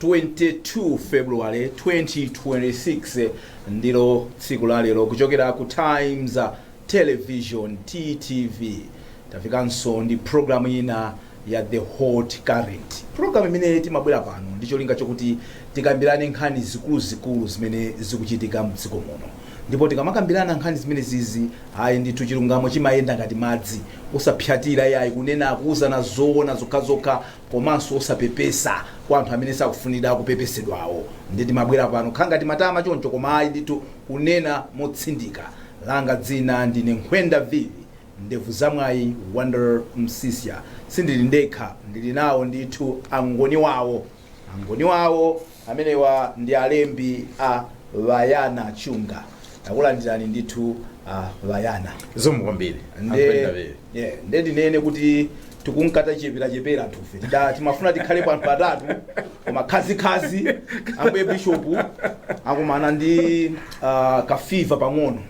22 February 2026 ndilo tsiku la lero kuchokera ku Times Television TTV tafikanso ndi programu ina ya The Hot Current programu imene timabwera pano ndi cholinga chokuti tikambirane nkhani zikuluzikulu zimene zikuchitika mdziko muno ndipo tikamakambirana nkhani zimene zizi ayi ndithu chilungamo chimayenda ngati madzi osapsatira yayi kunena kuuzana zoona zokhazokha komanso osapepesa kwa anthu amene sakufunira kupepesedwawo nde timabwera pano kukhala ngati matama choncho koma ayi ndithu kunena motsindika langa dzina ndine nkhwenda vivi ndevu zamwayi Wonder Msiska sindili ndekha ndili nawo ndithu angoni wawo angoni wawo Amenewa ndi alembi a Mbayana Chunga. Takulandirani ndithu a Bayana. Zikomo kwambiri yeah, nde tinene kuti tikunka tacheperachepera anthufe Tida- timafuna tikhale pa anthu atatu koma khazikhazi ambuye bishopu akumana ndi uh, kafiva pang'ono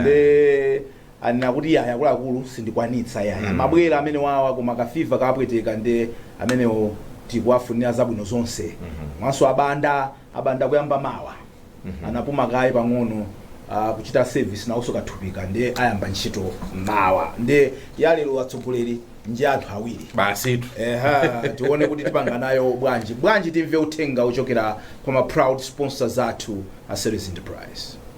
nde anena kuti yayi akuluakulu sindikwanitsa yayi mm. amabwera amene wawa koma ka fever kapweteka nde amenewo tikuwafunira zabwino zonse mm -hmm. mwanso abanda abanda kuyamba mawa mm -hmm. anapuma kaye pang'ono uh, kuchita service nawonso kathupika nde ayamba ntchito mawa nde yalero atsogoleri nja anthu awiri basitu eha tione kuti tipanga nayo bwanji bwanji timve uthenga wochokera kwa ma proud sponsors athu a Ceris Enterprise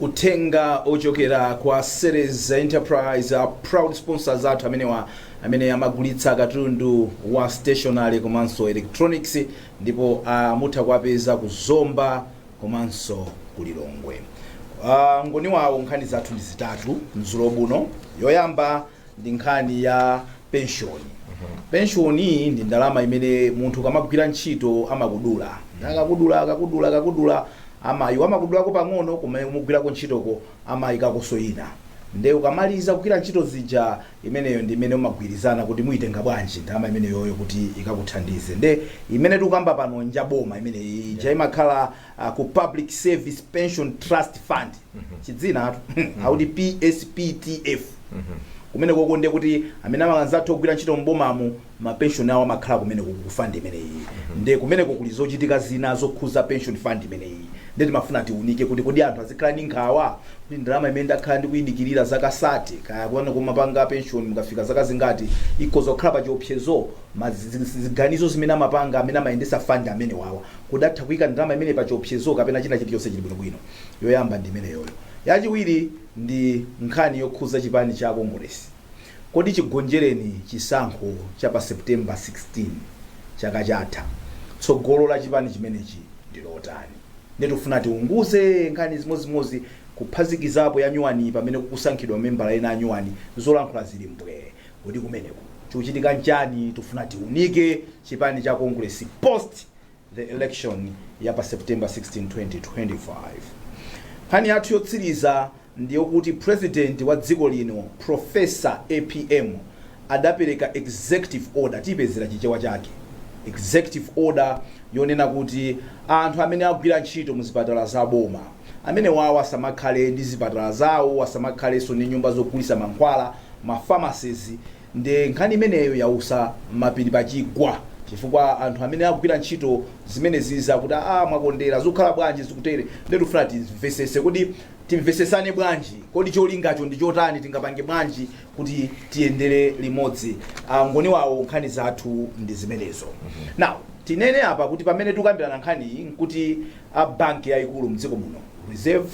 uthenga wochokera kwa Ceris Enterprise a proud sponsors athu amenewa amene amagulitsa katundu wa stationery komanso electronics ndipo uh, mutha kuwapeza ku zomba komanso ku lilongwe uh, ngoni wawo nkhani zathu ndi zitatu madzulo ano yoyamba ndi nkhani ya penshoni. Penshoni iyi ndi ndalama imene munthu ukamagwira ntchito amakudula. Akakudula, akakudula, akakudula, amati amakudulako pang'ono kumene kumugwirako ntchitoko amayikakonso ina. Nde ukamaliza kugwira ntchito zija, imeneyo ndi imene umagwirizana kuti muyitenga bwanji ndalama imeneyoyo kuti ikakuthandize. Nde imene tikukamba pano n'nja boma imeneyi. Ija imakhala a ku Public Service Pension Trust Fund chidzina amati PSPTF kumene koko ndiye kuti amene amanzathu ogwira ntchito m'bomamo mapenshoni awo amakhala kumene kuku ku fund imeneyi ndiye kumeneko kuli zochitika zina zokhuza pension fund imeneyi ndiye timafuna tiunike kuti kodi anthu azikhala ndi nkhawa kuti ndalama imene ndakhala ndikuyidikirira zaka sate kaya kwanu kumapanga pension mukafika zaka zingati ikhoza kukhala pa chiopsezo ma zi- zi- ziganizo zimene amapanga amene amayendetsa fund amene wawa Kodi atha kuika ndalama imeneyi pa chiopsezo kapena china chili chonse chili bwino bwino? Yoyamba ndi imeneyoyo. Yachiwiri ndi nkhani yokhuza chipani cha Kongolesi. Kodi chigonjereni chisankho cha pa September 16 chaka chatha, tsogolo la chipani chimenechi ndi lotani? Ndiye tikufuna tiunguze nkhani zimozimozi kuphazikizapo yanyuwaniyi pamene kusankhidwa mamembala ena anyuwani, zolankhula zili mbwee. Kodi kumeneko chikuchitika nchani? Tikufuna tiunike chipani cha Congress post the election ya pa September 16, 2025. Nkhani yathu yotsiriza ndiyokuti president wa dziko lino Professor APM adapereka executive order, tipezera chichewa chake, executive order yonena kuti anthu amene agwira ntchito mu zipatala za boma amenewawo asamakhale ndi zipatala zawo, asamakhalenso ndi nyumba zogulitsa mankhwala, ma pharmacies nde nkhani imeneyo yautsa mapiri pa chigwa chifukwa anthu amene agwira ntchito zimenezizi akuti aah mwakondera zikukhala bwanji zikutere nde tikufuna timvesese kodi timvesesane bwanji kodi cholingacho ndi chotani tingapange bwanji kuti tiyendere limodzi a ngoniwawo nkhani zathu ndi zimenezo now tinene apa kuti pamene tikukambirana nkhani iyi nkuti a banki yayikulu mdziko muno reserve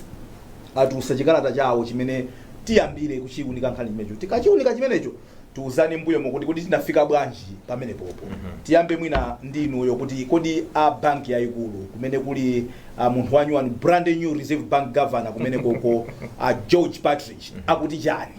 atulutsa chikalata chawo chimene Tiyambire kuchiunika nkhani chimenecho. Tikachiunika chimenecho, tiuzane mbuyomo kuti kodi tinafika bwanji pamenepopo. Tiyambe mwina ndi inuyo kuti kodi a banki yayikulu kumene kuli a munthu wanyuwani brand new Reserve Bank Governor kumene koko a George Partridge akuti chani?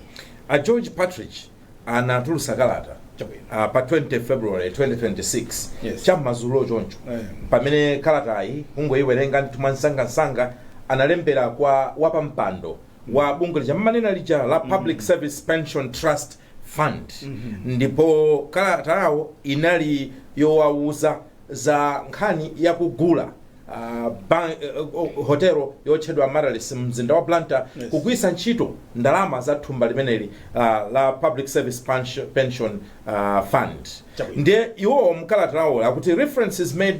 A George Partridge anatulutsa kalata Chabwino. ah, pa 20 February 2026 Yes. cham'madzulo choncho Eh. pamene kalatayi kungoyiwerenga ndithu mwansangansanga analembera kwa wapampando wa bungwe lija mmanena lija la public service pension trust fund ndipo kalata yawo inali yowawuza za nkhani yakugula ah, ban- eh, eh, hotelo yotchedwa Amaryllis mumzinda wa Blantyre Yes. kugwiritsa ntchito ndalama za thumba limeneli ah, la public service pension, pension ah, fund Chabwino. ndiye iwowo mkalata lawo akuti reference is made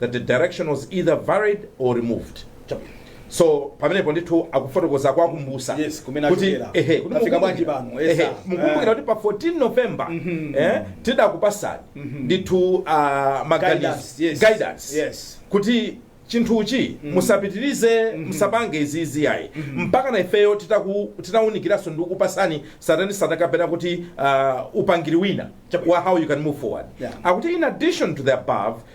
that the direction was either varied or removed so pamenepo ndithu akufotokoza kuwakumbusa Yes, kumene kuti achokera. ehe kuti Afika mukumbukira- bwanji pano, ehe, esa. mukumbukira kuti pa 14 november eh, tidakupasani ndithu ah, maganizo Guidance, yes. guidance Yes. kuti chinthuchi musapitirize musapange izizi ayi mpaka na ifeyo titaku- titawunikiranso ndi kupasani satani satakapena kuti uh, upangiri wina wa how you can move forward Yeah. akuti in addition to the above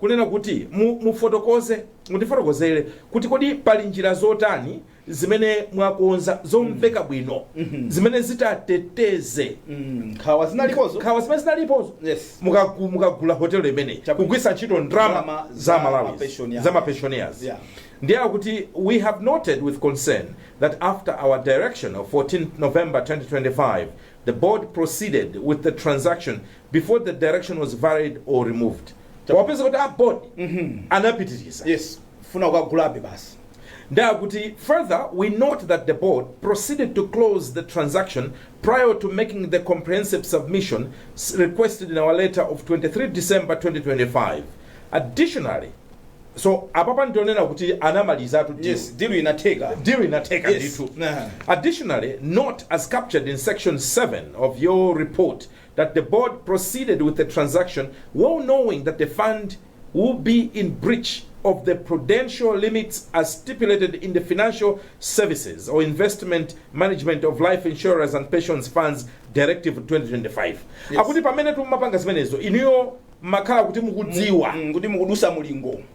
kunena kuti mu, mufotokoze, mutifotokozere kuti kodi pali njira zotani zimene mwakonza zomveka bwino zimene zitateteze Mm, nkhawa zinalipozo nkhawa zimene zinalipozo Yes. Mukagu- mukagula hotelo imeneyi Chabwino. kugwiritsa ntchito Ndalama ndalama za za malawi mapensioners. za mapensioners Yeah. ndiye akuti we have noted with concern that after our direction of 14 november 2025 the board proceeded with the transaction before the direction was varied or removed wapeza kuti a board anapitiriza yes funa kukagulabe basi Ndiye akuti further we note that the board proceeded to close the transaction prior to making the comprehensive submission s- requested in our letter of 23 December 2025 additionally so apapa ndionena kuti anamalizatu deal. yes dilu inatheka deal inatheka Yes. ndithu Nah. Additionally, note as captured in section 7 of your report that the board proceeded with the transaction well knowing that the fund will be in breach of the prudential limits as stipulated in the Financial Services or Investment Management of Life Insurers and Pensions Funds Directive 2025 Yes. akuti pamene tumapanga zimenezo inuyo mumakhala kuti mukudziwa kuti mukudutsa mulingo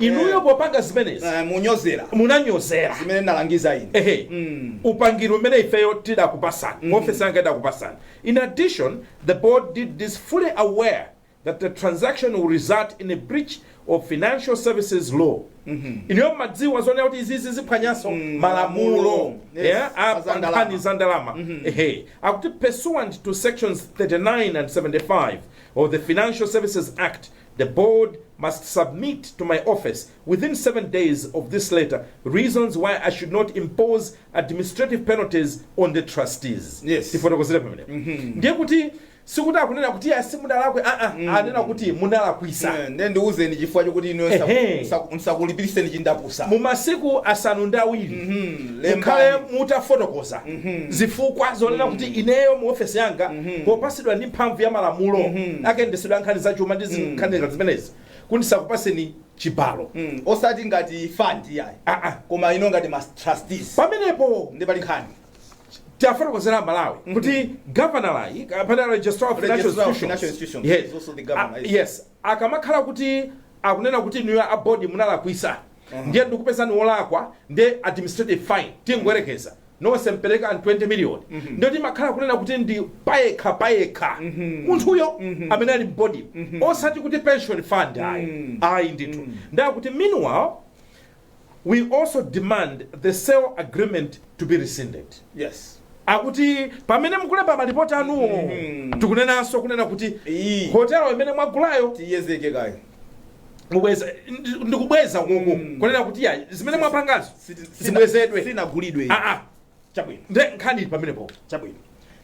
Inuyo Eh. popanga zimenezi Eh, munyozera munanyozera zimene ndalangiza ine ehe Mm. upangili umene ifeyo tidakupatsani mm. ofesi yanga idakupatsani in addition the board did this fully aware that the transaction will result in a breach of financial services law inuyo mumadziwa zonena kuti izizi ziphwanyanso Mm, malamulo malamulo. Yes, yeah, a a za ndalama. pankhani za ndalama ehe akuti pursuant to sections 39 and 75 of the financial services act The board must submit to my office, within seven days of this letter, reasons why I should not impose administrative penalties on the trustees. Yes. Tifotokozere pamenepo. Ndiye kuti sikuti akunena kuti ya simudalakwe a a anena kuti munalakwisa. Eh, ndiye ndiuzeni chifukwa chokuti inu Ehe. ndisakulipiritseni chindapusa Mu masiku asanu ndi awiri mukhale Lembani. mutafotokoza zifukwa zonena kuti ineyo mu ofesi yanga popatsidwa ndi mphamvu ya malamulo a kayendetsedwe ka nkhani za chuma ndi zi- nkhani ngati zimenezi kuti ndisakupatseni chibalo Mm, osati ngati fund yayi Ah, ah. koma inu ngati ma trustees pamenepo ndiye pali nkhani tiwafotokozere aMalawi kuti gavanala kapena registrar of financial Registrar of institutions Financial Institutions Yes. is also the governor, Ah, yes. yes akamakhala kuti akunena kuti inuyo a board munalakwisa ndiye ndikupezani wolakwa ndiye administrative fine tingoyerekeza nonse mupereka ma 20 million ndiyo timakhala kunena kuti ndi payekha payekha munthuyo amene ali m'board osati kuti pension fund ayi ayi ndithu ndiye akuti meanwhile We also demand the sale agreement to be rescinded. Yes. akuti pamene mukulemba malipoti anuwo Mhm. tikunenanso kunena kuti Iyi. hotelo imene mwagulayo Tiyedzeke kaye. mubweza ndi- ndikubweza konko Mm. kunena kuti ya zimene mwapangazo Siti- sina- zibwezedwe Sinagulidwe. iyi. Ah, ah. Chabwino. Ndiye nkhani ili pamenepo. Chabwino.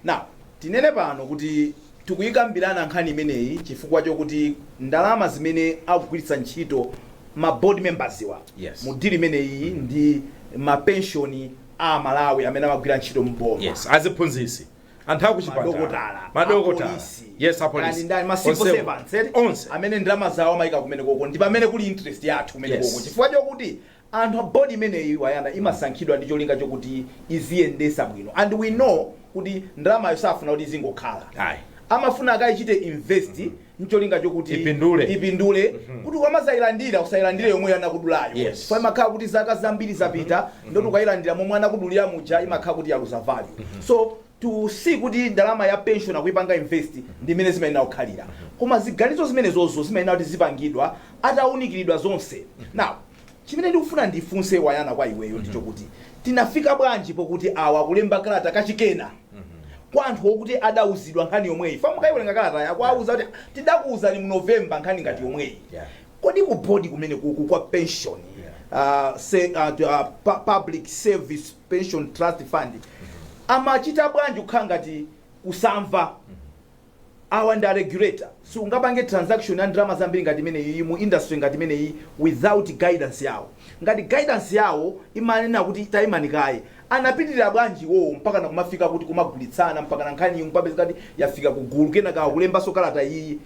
Now, tinene pano kuti tikuyikambirana nkhani imeneyi chifukwa chokuti ndalama zimene akugwiritsa ntchito ma board members wa Yes. mu deal imeneyi ndi ma pension a Malawi amene amagwira ntchito m'boma. Yes, aziphunzitsi. Anthu akuchipatala. Madokotala, Madokotala. apolisi, Yes, kani apolisi. ndani, ma civil Onsewo. servants, eti? Onse. amene ndalama zawo amayika kumene koko ndi pamene kuli interest yathu kumene Yes. koko chifukwa chokuti anthu a board imeneyi wayana imasankhidwa ndi cholinga chokuti iziyendetsa bwino and we know kuti ndalamayo safuna kuti izingokhala ayi amafuna akaichite invest ncholinga chokuti Ipindule. ipindule kuti ukamadzailandira usadzailandire yomweyo anakudulayo Yes. kwa imakhala kuti zaka zambiri zapita ndoti ukailandira momwe anakudulira muja imakhala kuti yaluza value so to see kuti ndalama ya pension akuipanga invest ndi mmene zimayenera kukhalira. Koma ziganizo zimenezozo zimayenera kuti zipangidwe atawunikiridwa zonse. Now, chimene ndikufuna ndifunse Wayana kwa iweyo ndi chokuti tinafika bwanji pokuti awa akulemba kalata kachikenanso kwa anthu okuti adawuzidwa nkhani yomweyi. For mukayiwerenga kalatayo akuwawuza kuti tidakuwuzani mu November nkhani ngati yomweyi. Yeah. Kodi ku board kumene kuku kwa pension Yeah. uh, se, uh, uh, pu- public service pension trust fund amachita bwanji kukhala ngati kusamva awa ndi aregulator siungapange transaction ya ndalama zambiri ngati imeneyi mu industry ngati imeneyi without guidance yawo ngati guidance yawo imanena kuti taimani kaye anapitirira bwanji iwowo mpaka na kumafika kuti kumagulitsana mpaka na nkhani mpakana kupezeka kuti yafika kugulu kenaka akulembanso kalata iyi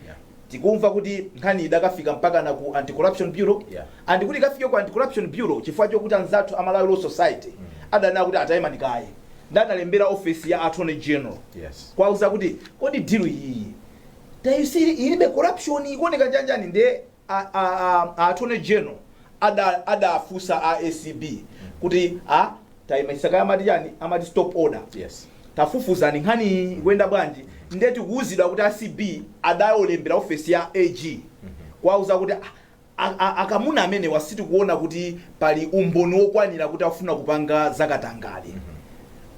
tikumva kuti nkhani idakafika mpakana ku anti-corruption bureau Yeah. and kuti ikafike ku anti-corruption bureau chifukwa chokuti anzathu a malawi law society adanena kuti ah tayimani kaye nde analembera office ya attorney general Yes. kuwauza kuti kodi deal iyiyi tayisiri ilibe corruption ikuoneka chanjani nde a- a- a- a attorney general ada- adafunsa a acb kuti a Taimitsani kaye amati chani? Amati stop order. Yes. Tafufuzani nkhaniyi ikuyenda bwanji nde tikuuzidwa kuti acb adalembera ofesi ya AG kuwauza kuti "Ah, a- a- akamuna amenewa sitikuona kuti pali umboni wokwanira kuti akufuna kupanga zakatangale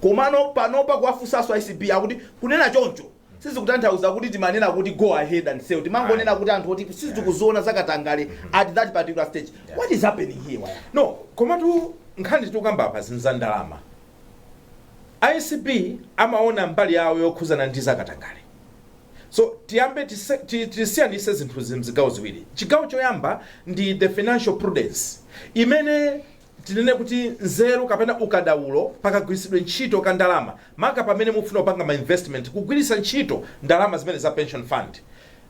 komano panopa kuwafunsanso acb akuti kunena choncho sizikutanthauza kuti timanena kuti go ahead and sell timangonena kuti anthu oti sitikuziona zakatangale at that particular stage what is happening here waya no komatu nkhani tikukamba apa ndi za ndalama acb amaona mbali yawo yokhuzana ndi zakatangale so tiyambe tise- ti- tisiyanitse zinthu mzigawo ziwiri chigawo choyamba ndi the financial prudence imene tinene kuti nzeru kapena ukadaulo pa kagwiritsidwe ntchito ka ndalama maka pamene mukufuna kupanga ma investment kugwiritsa ntchito ndalama zimene za pension fund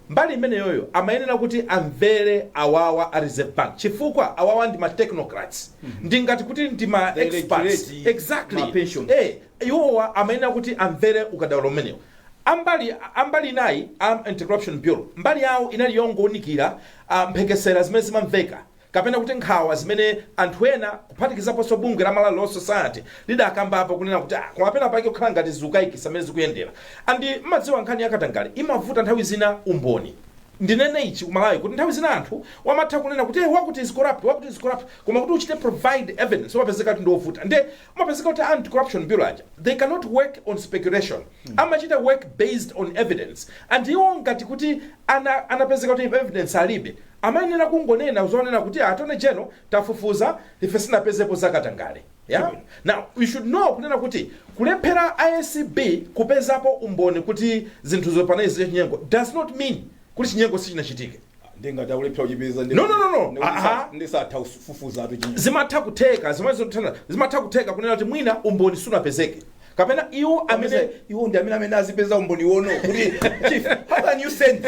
mbali imeneyoyo amayenera kuti amvere awawa a reserve bank chifukwa awawa ndi ma technocrats ndi ngati kuti ndi ma experts They regulate ma pensions. exactly eh iwowa amayenera kuti amvere ukadaulo umenewo a mbali a mbali inayi a anti corruption bureau mbali yawo inali yongowunikira ah, mphekesera zimene zimamveka kapena kuti nkhawa zimene anthu ena kuphatikizaponso bungwe la Malawi Law Society lidakambapo kunena kuti ah, koma pena pake kukhala ngati zikukaikitsa mmene zikuyendera and mmadziwa nkhani ya katangale imavuta nthawi zina umboni ndinene ichi kumalawi kuti nthawi zina anthu wamatha kunena kuti "Eh, wakuti is corrupt wakuti is corrupt koma kuti uchite provide evidence umapezeka kuti ndiovuta nde Umapezeka kuti a anti corruption bureau aja they cannot work on speculation amachita work based on evidence and iwo ngati kuti ana, anapezeka kuti evidence alibe amayenera kungonena zonena kuti a attorney general tafufuza ife sitinapezepo zakatangale yeah? now you should know kunena kuti kulephera acb kupezapo umboni kuti zinthuzo panali zachinyengo does not mean kuti chinyengo sichinachitike ndi ngati akulephera kuchipeza ndi- No, no, no, no. ndi- Ah, ah. ndisatha kufufuza atu chinyengo zimatha kutheka zimene zikuthana zimatha kutheka kunena kuti mwina umboni sunapezeke kapena iwo amene amene iwo ndi amene amene azipeza umboni wono kuti chief how can you send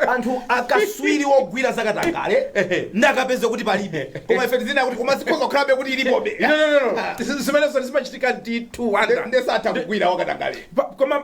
anthu akaswiri wogwira zakatangale Ehe. nkukapeza kuti palibe koma ife tizinena kuti koma zikhoza kukhalabe kuti ilipobe No, no, no, no. Zi- zimenezo zimachitika ndithu wanda ndesatha kugwira wakatangale Pa- koma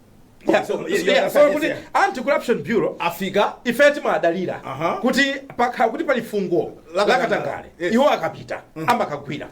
Yeah, So, yeah, yeah, so yeah, kuti yeah. anti corruption bureau afika ife timadalira Aha. kuti pakakhala kuti pali fungo la katangale La katangale. Yes. iwo akapita amakagwira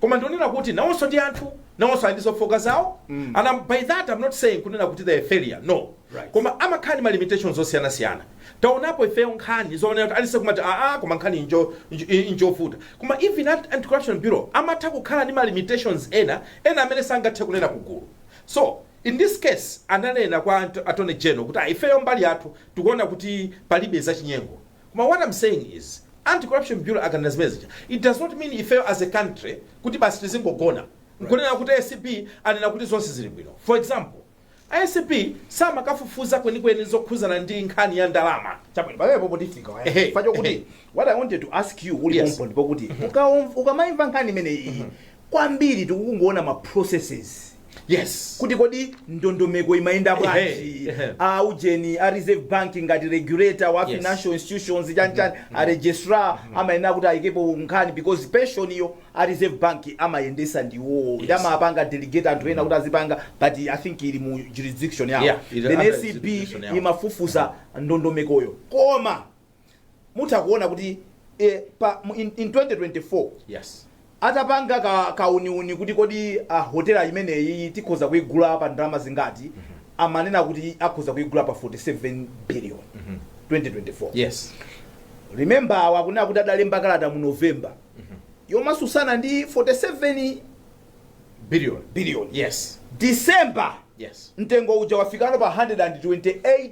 koma ndikunena kuti nawonso ndi anthu nawonso ali ndi zofooka zawo and I'm- by that i'm not saying kunena kuti they are failure no Right. koma amakhala ndi ma limitations zosiyanasiyana taonapo ifeyo nkhani zoonera kuti a police kumati aa koma nkhani injo- injo- injovuta koma even at anti corruption bureau amatha kukhala ndi ma limitations ena ena amene sangathe kunena kugulu so In this case ananena kwa attorney general kuti ifeyo mbali yathu tikuona kuti palibe zachinyengo koma what I'm saying is anti corruption bureau akanena zimene zija it does not mean ifeyo as a country kuti basi tizingogona nkunena kuti acb anena kuti zonse zili bwino. For example acb samakafufuza kwenikweni zokhuzana ndi nkhani ya ndalama chabwino pamenepo potifika waya Ehe, chifukwa chokuti ehe. what i wanted to ask you uli Yes. pompo ndipokuti ukaum- ukamaimva nkhani imene iyi kwambiri tikungoona ma processes yes kuti kodi ndondomeko imayenda bwanji Ehe, ehe. a ujeni a reserve bank ngati regulator wa Yes. financial institutions chanchani a registrar amayenera kuti ayikepo nkhani because pension-yo a reserve bank amayendetsa ndiwowo Yes. ndi amapanga delegate anthu ena kuti azipanga but i think ili mu jurisdiction yawo Yeah, ili under jurisdiction yawo. then acb imafufuza ndondomekoyo koma mutha kuona kuti in 2024 atapanga kauniuni kuti kodi uh, hotela imeneyi tikhoza kuigula pa ndalama zingati amanena kuti akhoza kuigula pa 47 billion 2024 remember awa akunena kuti adalemba kalata mu november yomatsutsana ndi 47 billion december mtengo uja wafikano pa 128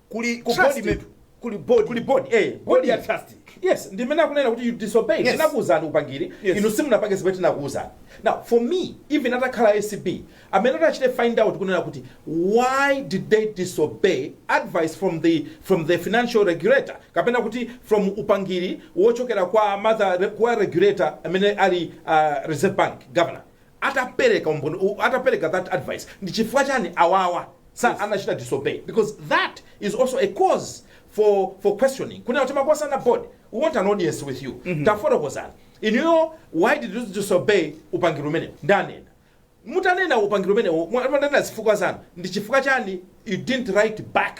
kuli board ya trust ndimene akunena kuti you disobeyed tinakuuzani upangiri inu simunapange zimene tinakuuzani now for me even atakhala acb amene atachite find out kunena kuti why did they disobey advice from the from the financial regulator kapena kuti from upangiri wochokera kwa regulator amene ali uh, reserve bank governor atapereka that advice ndi chifukwa chani awawa anachita disobey because that is also a cause for for questioning kunena kuti timakosana board we want an audience with you mm -hmm. tafotokozani inuyo why did you disobey upangiri umenewo ndanena mutakana upangiri umenewo mwa- mwanena zifukwa zanu ndi chifukwa chani you didn't write back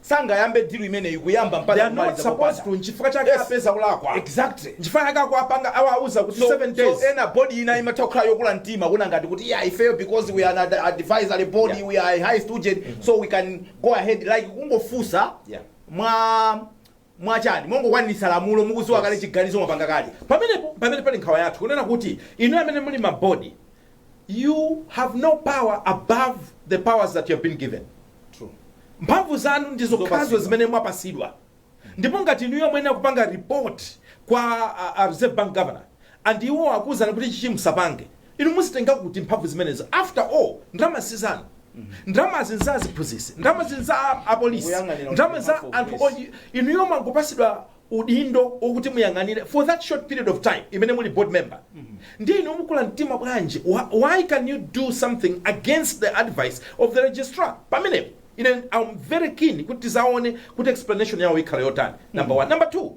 sangayambe deal imeneyi kuyamba mpaka They are not supposed to nchifukwa chake apeza kulakwa exactly nchifukwa chake akuwapanga awauza kuti 7 days so ena board ina imatha kukhala yokula mtima kuona ngati kuti yeah ifeyo because we are an advisory body yeah. we are a high student mm -hmm. so we can go ahead like kungofunsa mwa mwachani? Mongokwaniritsa lamulo, mukudziwa kale chiganizo mwapanga kale. Pamenepo mpamene pali nkhawa yathu kunena kuti inuyo amene muli m'ma board you have no power above the powers that you have been given. Mphamvu zanu ndi zokhazo zimene mwapatsidwa ndipo ngati inuyo muyenera kupanga report kwa a Reserve Bank Governor and iwowo akuuzani kuti ichichi musapange, Inu muzitenga kuti mphamvu zimenezo after all ndalama sizanu ndalamazi nza aziphunzitsi ndalamazi nza apolisi ndalama za anthu inuyo mwangopatsidwa udindo okuti muyang'anire for that short period of time imene muli board member ndiye inu mukula mtima bwanji Wh- why can you do something against the advice of the registrar pamenepo ine am very keen kuti tidzaone kuti explanation yawo ikhala yotani number one number two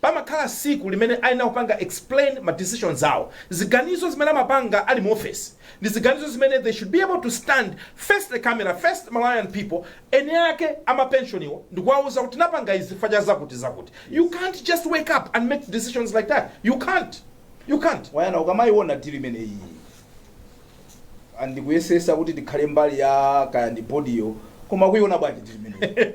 Pamakhala tsiku limene ayenera kupanga explain ma decisions awo, ziganizo zimene amapanga ali mu office ndi ziganizo zimene they should be able to stand face the camera, face the Malawian people, eni ake ama pension wo ndikuwauza kuti tinapanga izi chifukwa cha zakuti zakuti. You can't just wake up and make decisions like that, you can't, you can't. Wayana, ukamaiona deal imeneyi. ndi kuyesesa kuti tikhale mbali ya kaya ndi bodiyo koma kuiona bwanji ndi imeneyo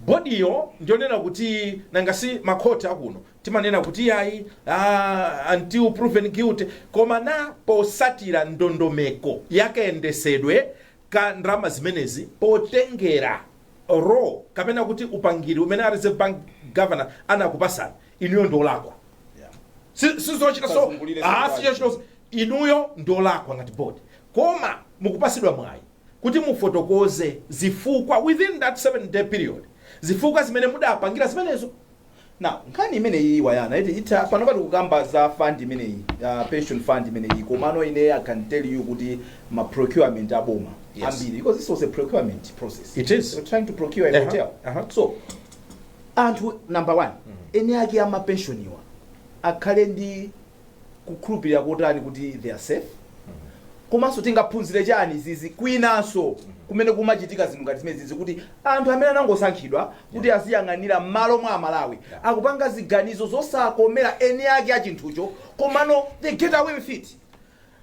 bodiyo ndionena kuti nanga si makhoti akuno timanena kuti yayi ah, until proven guilty koma na posatira ndondomeko yakayendesedwe ka ndalama zimenezi potengera law kapena kuti upangiri umene a reserve bank governor anakupasani inuyo ndiolakwa Yeah. sizochita so zozungulira ah, zozungulira. sizochita so Inuyo ndiolakwa ngati board koma mukupasidwa mwayi kuti mufotokoze zifukwa within that 7 day period zifukwa zimene mudapangira zimenezo. Now nkhani imeneyiyi wayankha eti itha panopa tikukamba za fund imeneyi ya pension fund imeneyi komano ine I can tell you kuti ma procurement a boma Yes. ambiri because this was a procurement process It is. They were trying to procure a Uh-huh, hotel uh-huh. so anthu number one eni ake amapenshoniwa akhale ndi kukhulupirira kotani kuti they are safe komanso tingaphunzire chani pa izizi kwinanso kumene kumachitika zinthu ngati zimenezizi kuti anthu amene anangosankhidwa kuti aziyang'anira m'malo mwa amalawi akupanga ziganizo zosakomera eni ake a chinthucho komano they get away with it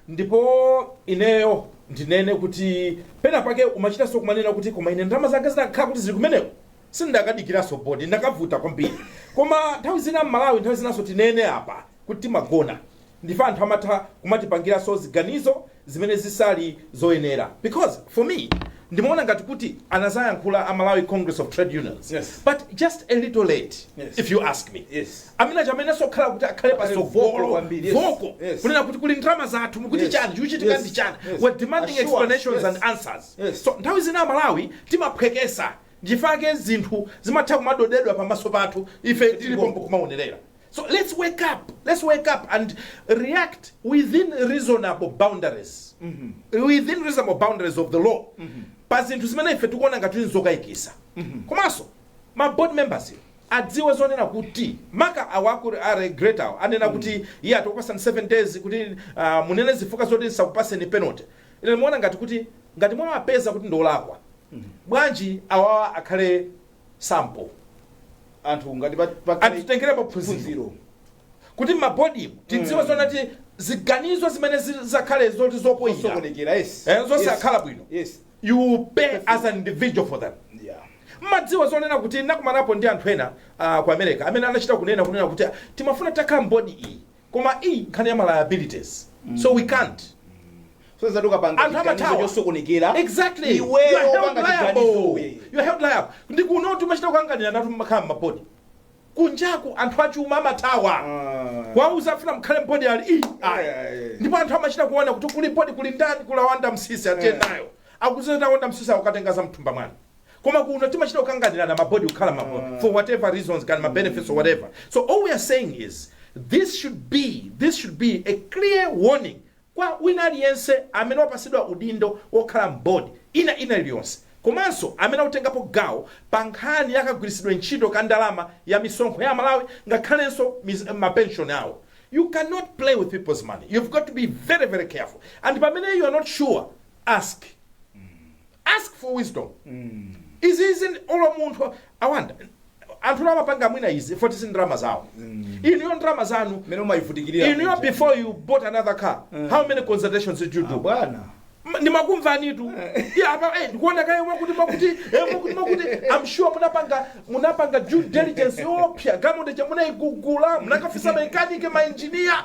ndipo ineyo ndinene kuti pena pake umachitanso kumanena kuti koma ine ndalama zanga zinakhala kuti zili kumeneko sindakadikiranso board ndakavuta kwambiri koma nthawi zina amalawi nthawi zinanso tinene apa kuti timagona ndife anthu amatha kumatipangiranso ziganizo zimene zisali zoyenera because for me ndimaona ngati kuti anazayankhula a malawi congress of trade unions Yes. but just a little late Yes. if you ask me Yes. amene chamenenso okhala kuti akhale Akhale vocal pasogolo kwambiri, yes. vocal Yes. kunena kuti kuli ndalama zathu mukuti Yes. chani chikuchitika Yes. ndi chani Yes. we're demanding Assure us, explanations yes. and answers Yes. so nthawi zina amalawi timaphwekesa Nchifukwa chake zinthu zimatha kumadodedwa pamaso pathu ife tili pompo kumaonerera. So let's wake up, let's wake up and react within reasonable boundaries, within reasonable boundaries of the law pa zinthu zimene ife tikuona ngati kuti nzokaikisa. Komanso ma board members adziwe zonena kuti maka awa a regulator awa anena kuti iyayi tikupasani 7 days kuti ah, munene zifukwa zoti tisakupatseni penalty. Ine ndimaona ngati kuti ngati mwawapeza kuti ndiolakwa bwanji awawa akhale sample anthu ngati pa- pa- anthu titengerepo phunziro phunziro kuti mmabodimu tidziwe zonena kuti ziganizo zimene zi- zakhale zoti zopoyira zosokonekera yes Eh, zonse Yes. akhala bwino. yes you pay as an individual for them yeah mmadziwa zonena kuti nakumanapo ndi anthu ena ah, ku america amene anachita kunena kunena kuti ah, timafuna takhala mbodi iyi koma ii nkhani ya ma liabilities so we can't so zoti ukapanga Anthu chiganizo amathawa. chosokonekera exactly you iweyo are held opanga liable chiganizowe you are held liable ndi kuno timachita kukanganiranatu kukhala m'mabodi kunjaku anthu achuma amathawa Ah. kuwauza afuna mukhale m'bodi ali ii ayi Yeah, yeah. ndipo anthu amachita kuona kuti kuli bodi kuli ndani kuli a Wanda Msisi atiye Yeah. nawo akudziwa za a Wanda Msisi akukatenga za mthumba mwanu koma kuno timachita kukanganirana mabodi kukhala mabodi for whatever reasons kaya ndi ma benefits or whatever so all we are saying is this should be this should be a clear warning kwa wina aliyense amene wapasidwa udindo wokhala m'bodi ina ina iliyonse komanso amene akutengapo gawo pa nkhani yakagwiritsidwe ntchito ka ndalama ya misonkho ya malawi ngakhalenso mis- mapenshoni awo you cannot play with people's money you've got to be very very careful and pamene you are not sure ask ask for wisdom izi izi ndi- olo munthu awanda anthu nawo amapanga mwina izi poti si ndalama zawo inuyo ndalama zanu mmene mumayivutikirira inuyo muja. before you bought another car how many consultations did you do bwana Ma- ndimakumvanitu Ya, apa, eh, ndikuona kaye mwakuti mwakuti eh, mwakuti mwakuti i'm sure munapanga munapanga due diligence yoopsa galimoto ija munaigula munakafunsa makanike mainjiniya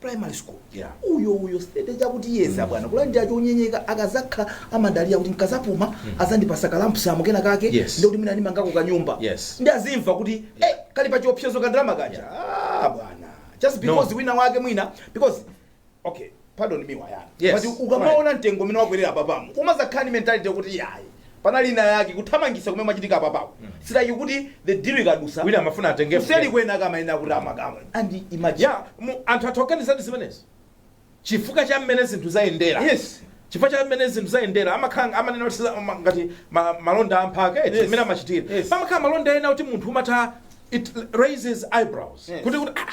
primary school Yeah. uyo uyo sitate chakuti yes abwana kulandira chonyenyeka-chonyenyeka akazakhala amadalira kuti nkazapuma azandipasa kalampusamu kena kake Yes. ndikuti mwina ndimangako kanyumba Yes. nde azimva kuti eh, kali pa chiopsezo ka ndalama kaja ah, bwana just because wina wake mwina because okay pardon me wayana Yes. but ukamaona mtengo umene wakwerera apapa mu umazakhala ndi mentality kuti yayi panali inayake kuthamangisa kumene kumachitika apapawo mm. si lakuti the deal ikadusa wina amafuna atenge kuseli kwena kama yina kuti amakamwe and imagine ya mu anthu akutokana za zimenezi chifuka cha mmene zinthu zayendera yes chifukwa cha mmene zinthu zayendera amakhala amanena kuti siza- ma- ngati ma- malonda amphaka eti Yes. mmene amachitira Yes. pamakhala malonda ena kuti munthu umatha it raises eyebrows Yes. kuti kuti ah,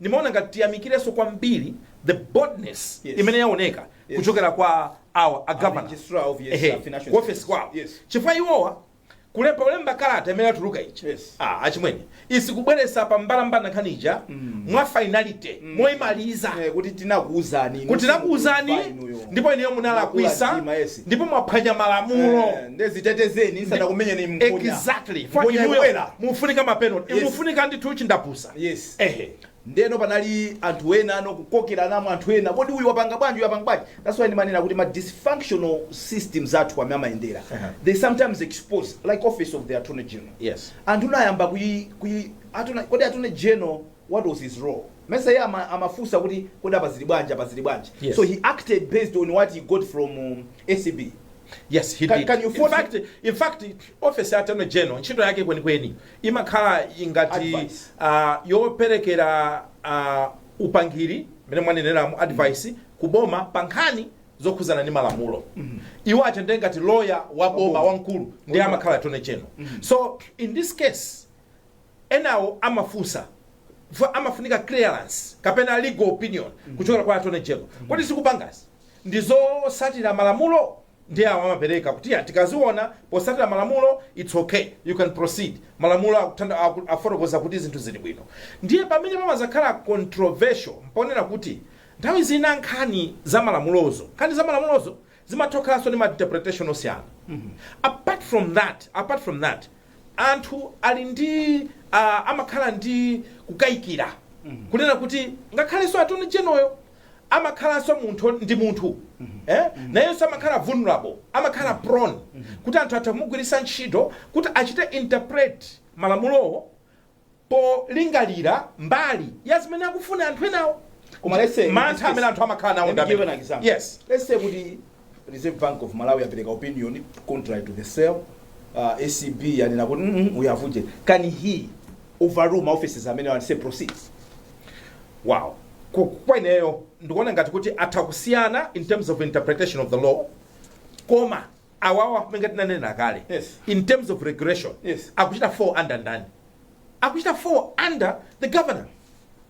Ndimaona ngati tiyamikirenso kwambiri the boldness Yes. imene yaoneka Yes. kuchokera kwa awa a governor registrar of, yes, Ehe, uh, financial ku office institutions. kwawo Yes. chifukwa iwowa kulemba ulemba kalata imene yatuluka ija Yes. ah, achimwene is kubweretsa pa mbalambanda nkhani ija mwa finality moimaliza Eh, kuti tinakuuzani inu, kuti tinakuuzani simukumva inuyo. ndipo ineyo munalakwisa Mwakula mtima, yes. ndipo mwaphwanya malamulo Eh, nde zitetezeni ndisanakumenyeni mkonya. exactly Mkonya For inuyo ikubwera. mufunika mapenalty Yes. mufunika ndithu chindapusa yes ehe ndeno panali anthu ena ano kukokeranamo anthu ena kodi uyu wapanga bwanji uyu wapanga bwanji that's why ndimanena kuti ma dysfunctional systems athu amene amayendera uh -huh. they sometimes expose like office of the attorney general yes anthu anayamba kuyi kuyi attorney kodi attorney general what was his role mesa yeye ama, amafunsa kuti kodi apa zili bwanji apa zili bwanji yes. so he acted based on what he got from um, acb yes he can, did. can you in fact in fact office ya attorney general ntchito yake kwenikweni imakhala ngati Advice. ah, yoperekera ah, upangiri mmene mwaneneramu advice ku boma pa nkhani zokhudzana ndi malamulo iwo aja ndi ngati loya wa boma boma. wamkulu ndiye Boma. amakhala attorney general so in this case enawo amafunsa fu- amafunika clearance kapena legal opinion kuchokera kwa attorney general kodi zikupangazi ndizotsatira malamulo ndiye awa amapereka kuti ya tikaziona potsatira malamulo its okay you can proceed malamulo akuthanda- aku- afotokoza kuti zinthu zili bwino ndiye pamene pamazakhala controversial mponena kuti nthawi zina nkhani za malamulozo nkhani za malamulozo zimathokhalanso ndi ma interpretation osiyana apart from that apart from that anthu ali ndi uh, amakhala ndi kukayikira kunena kuti ngakhalenso attorney general-yo amakhalanso munthu ndi munthu eh? nayenso amakhala vulnerable amakhala prone kuti anthu atha kumugwiritsa ntchito kuti achite interpret malamulowo polingalira mbali ya zimene akufuna anthu enawo Koma let's say- mantha amene anthu amakhala nawo Let me ndi give you an amene- example. yes Let's say kuti Reserve Bank of Malawi yapereka opinion contrary to the sale. Uh, ACB yanena kuti mm -mm, we have uje. Can he overrule ma offices amenewo and say proceed? Wow. Ku- Kweneyo ndikuona ngati kuti atha kusiyana in terms of interpretation of the law koma awawa ngati ndinanena kale Yes. in terms of regulation Yes. akuchita fall under ndani akuchita fall under the governor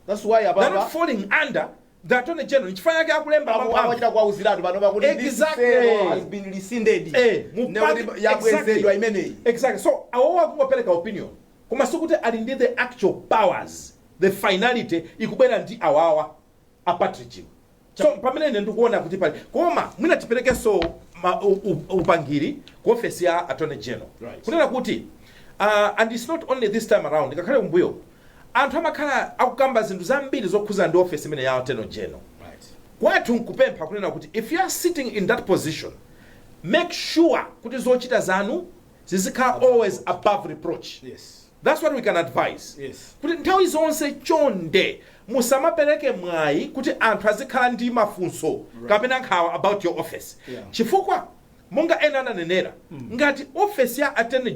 That's why they're not awawa falling under The Attorney General, nchifukwa chake akulemba mawu awo. akuchita kuwauziratu panopa kuti this Exactly. sale has been rescinded Eh, mu Ne party- kuti yabwezedwa exactly. imeneyi Exactly. So awowo akungopereka opinion koma sikuti ali ndi the actual powers the finality ikubwera ndi awawa apatrijiwo so pamene ine ndikuona kuti pali koma mwina tiperekenso ma- u- u- upangiri ku ofesi ya attorney general Right. kunena kuti uh, and it's not only this time around ngakhale kumbuyo Anthu amakhala akukamba zinthu zambiri zokhudza ndi office imeneyi ya Attorney General. Kwathu nkupempha kunena kuti if you are sitting in that position make sure kuti zochita zanu zizikhala always above reproach. That's what we can advise kuti nthawi zonse chonde musamapereke mwayi kuti anthu azikhala ndi mafunso kapena nkhawa about your office chifukwa monga ena ananenera ngati office ya Attorney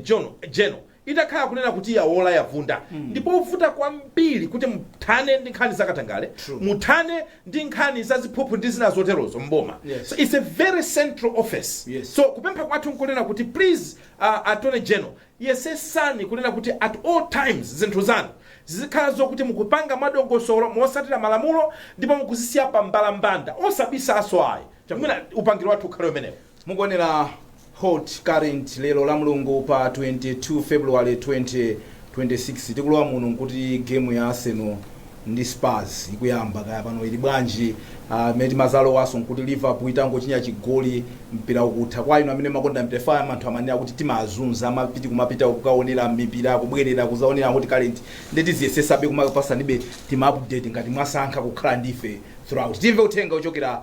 General Itakhala kunena kuti yawola yavunda ndipovuta kwambiri kuti muthane ndi nkhani za katangale, muthane ndi nkhani za ziphuphu ndi zina zoterozo m'boma. So it's a very central office. So kupempha kwathu nkunena kuti please uh, Attorney General yesesani kunena kuti at all times zinthu zanu zizikhala zokuti mukupanga mwadongosolo motsatira malamulo ndipo mukuzisiya pa mbalambanda osabisaso ayi. Mwina upangiri wathu ukhale umenewo. Mukuonera Hot Current lero lamulungu pa 22 February 2026 timalowa muno nkuti game ya Arsenal ndi Spurs ikuyamba kaya pano ili bwanji ah, mmene timalowanso nkuti Liverpool itangochinya chigoli mpira ukutha kwa inu amene mumakonda mpira chifukwa anthu amanena kuti timawazunza amapita kumapita kukaonera mipira kubwerera kuzaonera Hot Current ndi tiziyesesabe kumapasanibe tima update ngati mwasankha kukhala ndife throughout timve uthenga ochokera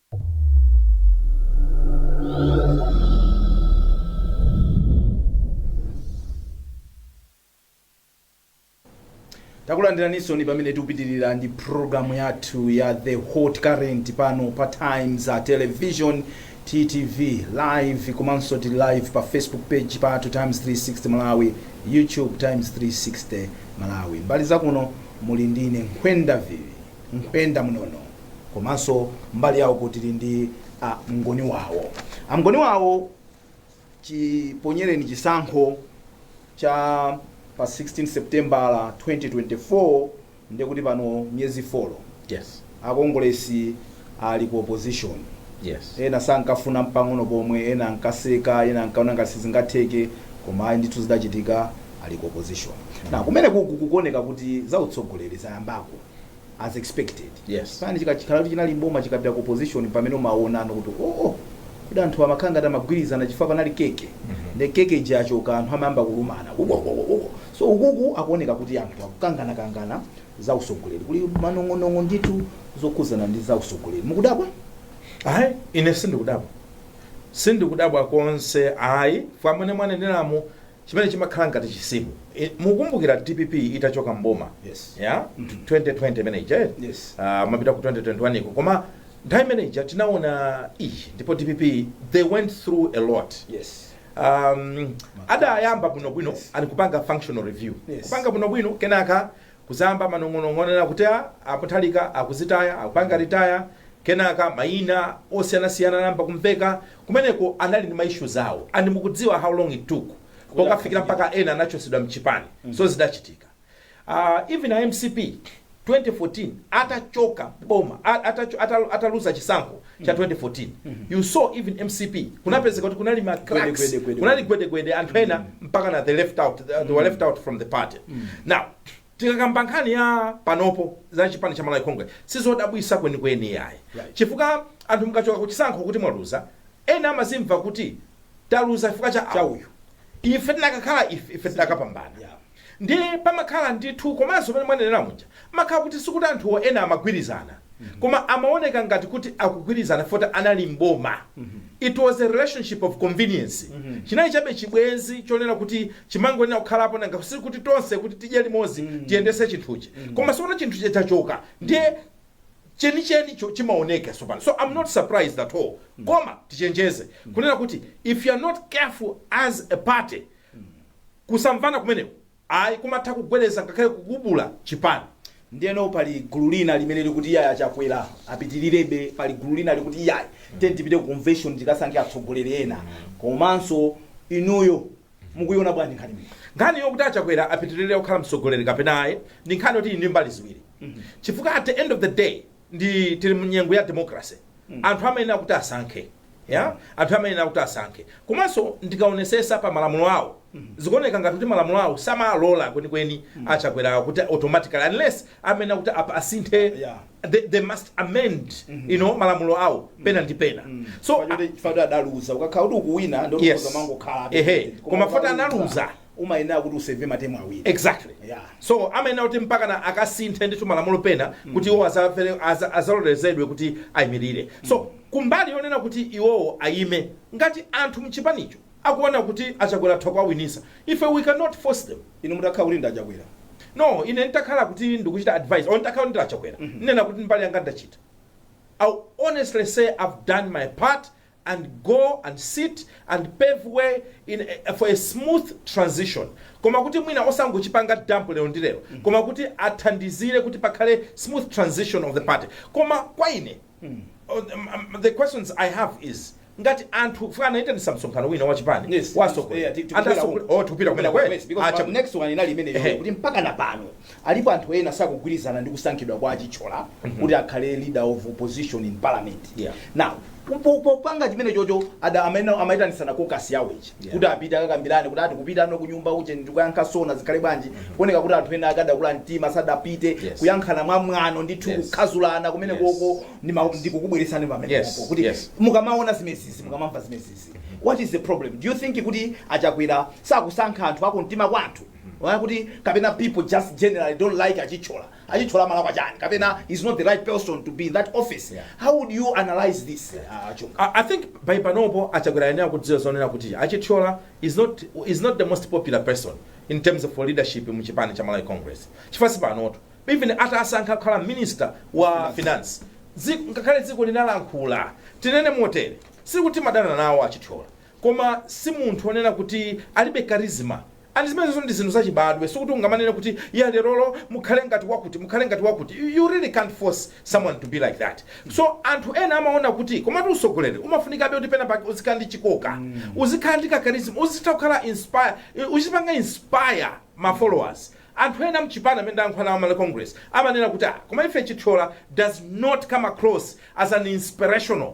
takulandiraninsoni pamene tikupitirira ndi programu yathu ya the hot current pano pa times television ttv live komanso tili live pa facebook page pathu times 360 malawi youtube times 360 malawi mbali zakuno muli ndine nkhwendavire mkhwenda mnono komanso mbali yawo kuti tili ndi a mngoni wawo a mngoni wawo chiponyereni chisankho cha pa 16 septembala 2024 ndiye kuti pano miyezi 4 yes akongolesi ali ku opposition yes ena sankafuna mpang'ono pomwe ena ankaseka ena ankaona ngati sizingatheke koma ayi ndithu zidachitika ali ku opposition na kumene kuku kukuoneka kuti za utsogoleri zayambako as expected Yes. chipani chikakhala kuti chinali mboma chikapita ku opposition pamene umaonano kuti oh, oh kuti anthu amakhala ngati amagwirizana chifukwa panali keke nde keke ija yachoka anthu amayamba kulumana Wo, wo, wo, wo, wo. so ukuku kukuoneka kuti anthu akukangana kangana za usogoleri kuli manong'onong'o ndithu zokhudzana ndi za usogoleri mukudabwa ayi ine sindikudabwa sindikudabwa konse ayi chifukwa mmene mwaneneramu chimene chimakhala ngati chisimu. I- Mukukumbukira dpp itachoka mboma Yes. ya 2020 imene ija eh? Yes. Ah, kumapita ku 2021 iko koma nthawi imene ija tinaona iyi ndipo dpp they went through a lot Yes. um, adayamba bwinobwino Yes. ali kupanga functional review Yes. kupanga bwinobwino kenaka Kudzayamba manong'onong'o onena kuti a Peter Mutharika akudzitaya, akupanga retire, kenaka mayina osiyanasiyana anayamba kumveka. Kumeneko anali ndi ma issues awo and mukudziwa how long it took pokafikira mpaka ena anachotsedwa mchipani. So zidachitika. Aaa even a mcp 2014 atachoka boma a atacho atalu ataluza chisankho cha 2014 you saw even mcp kunapezeka kuti kunali ma cracks, Gwede, gwede, gwede. kunali gwedegwede anthu ena mpaka na they left out they they were left out from the party now tikakamba nkhani ya panopo za chipani cha malawi congress sizodabwisa kwenikweni yayi Right. chifukwa anthu mukachoka kuchisankho kuti mwaluza ena amazimva kuti taluza chifukwa cha Cha awo. uyu. ife tinakakhala ife ife tinakapambana Yeah. Ndiye pamakhala ndithu, komanso mmene mwanenera muja, pamakhala kuti sikuti anthuwo ena amagwirizana, koma amaoneka ngati kuti akugwirizana chifukwa choti anali m'boma. It was a relationship of convenience. Chinali chabe chibwenzi chonena kuti chimangoyenera kukhalapo nanga sikuti tonse kuti tidye limodzi tiyendetse chinthuchi. Koma tsopano chinthu chija chachoka, ndiye chenichenicho chimaoneka tsopano. So I'm not surprised at all. Koma tichenjeze kunena kuti if you are not careful as a party, kusamvana kumeneko ayi kumatha kugwedeza ngakhale kugubula chipani. Ndiyeno pali gulu lina limene likuti iyayi a Chakwera apitilirebe, pali gulu lina likuti iyayi tiyeni tipite ku convention tikasankhe atsogoleri ena komanso inuyo mukuiona bwanji nkhani imeneyi? Nkhani yokuti a Chakwera apitilire kukhala mtsogoleri kapena ayi ndi nkhani yoti ili ndi mbali ziwiri chifukwa at the end of the day ndi tili mu nyengo ya democracy anthu amayenera kuti asankhe yeah anthu amayenera kuti asankhe komanso ndikaonesesa pa malamulo awo zikuoneka ngati kuti malamulo awo samalola kwenikweni a Chakwera kuti automatically unless amayenera kuti apa asinthe Yeah. they, they must amend you know malamulo awo pena ndi pena so Chifukwa choti- chifukwa choti adaluza ukakhala kuti ukuwina Yes. ndiye umangokhala ehe koma chifukwa choti analuza umayenera kuti useve ma term awiri exactly Yeah. so amayenera kuti mpakana akasinthe ndithu malamulo pena kuti iwo azavere- aza- azalolerezedwe kuti ayimirire so kumbali yonena kuti iwowo ayime ngati anthu mchipanicho akuona kuti a Chakwera atha kuwawinisa ife we cannot force them inu mutakhala kuti ndi a Chakwera no ine nditakhala kuti ndikuchita advise or nditakhala kuti ndi a Chakwera ndinena kuti mbali yanga ndachita i honestly say i've done my part and go and sit and pave way in a, for a smooth transition koma kuti mwina osangochipanga dump lero ndi lero koma kuti athandizire kuti pakhale smooth transition of the party koma kwa ine oh, um, um, the questions i have is ngati anthu chifukwa anaitanisa msonkhano wina wachipani Yes, yes, yeah, ti- tikupita wa atsogoleri uko. oh tikupita kumene Yes, kweli because Acha- my next one inali imeneyo Ehe. kuti mpaka na pano Alipo anthu ena sakugwirizana ndi kusankhidwa kwa a Chithyola kuti akhale leader of opposition in parliament. Yeah. Now, po- popanga chimene chocho ada amene amaitanitsana caucus yawo ichi Yeah. kuti apite akakambirane kuti ati kupita ano kunyumba uje ndi kuyankha SONA zikhale bwanji kuoneka kuti anthu ena adakula mtima sadapite Yes. kuyankhana mwa mwano ndithu Yes. kukhazulana kumene Yes. koko ndi ma- ndi kukubweretsani pamene Yes. popo kuti Yes. mukamaona zimezizi mukamamva zimezizi what is the problem do you think kuti a Chakwera sakusankha anthu akumtima kwa anthu Why kuti kapena people just generally don't like a Chithyola? A Chithyola amalakwa chani? Kapena he's not the right person to be in that office? Yeah. How would you analyze this uh, Chunga? I, I think by panopo a Chakwera ayenera kudziwa zonena kuti a Chithyola is not, is not the most popular person in terms of leadership mu chipani cha malawi congress chifukwa sipanoto even atawasankha kukhala minister wa finance Zi- ngakhale dziko linalankhula tinene motere sikuti timadana nawo a Chithyola koma si munthu onena kuti alibe charisma And zimenezo ndi zinthu zachibadwe, sikuti ungamanene kuti yeah lerolo mukhale ngati wakuti, mukhale ngati wakuti, you you really can't force someone to be like that. So anthu ena amaona kuti komatu usogoleri umafunikabe kuti pena pake uzikhala ndi chikoka, uzikhala ndi ka charisma, uzitha kukhala inspire, uzipanga inspire ma followers. Anthu ena mchipani amene ndayankhula nawo a Malawi Congress amanena kuti ah, koma ife Chithyola does not come across as an inspirational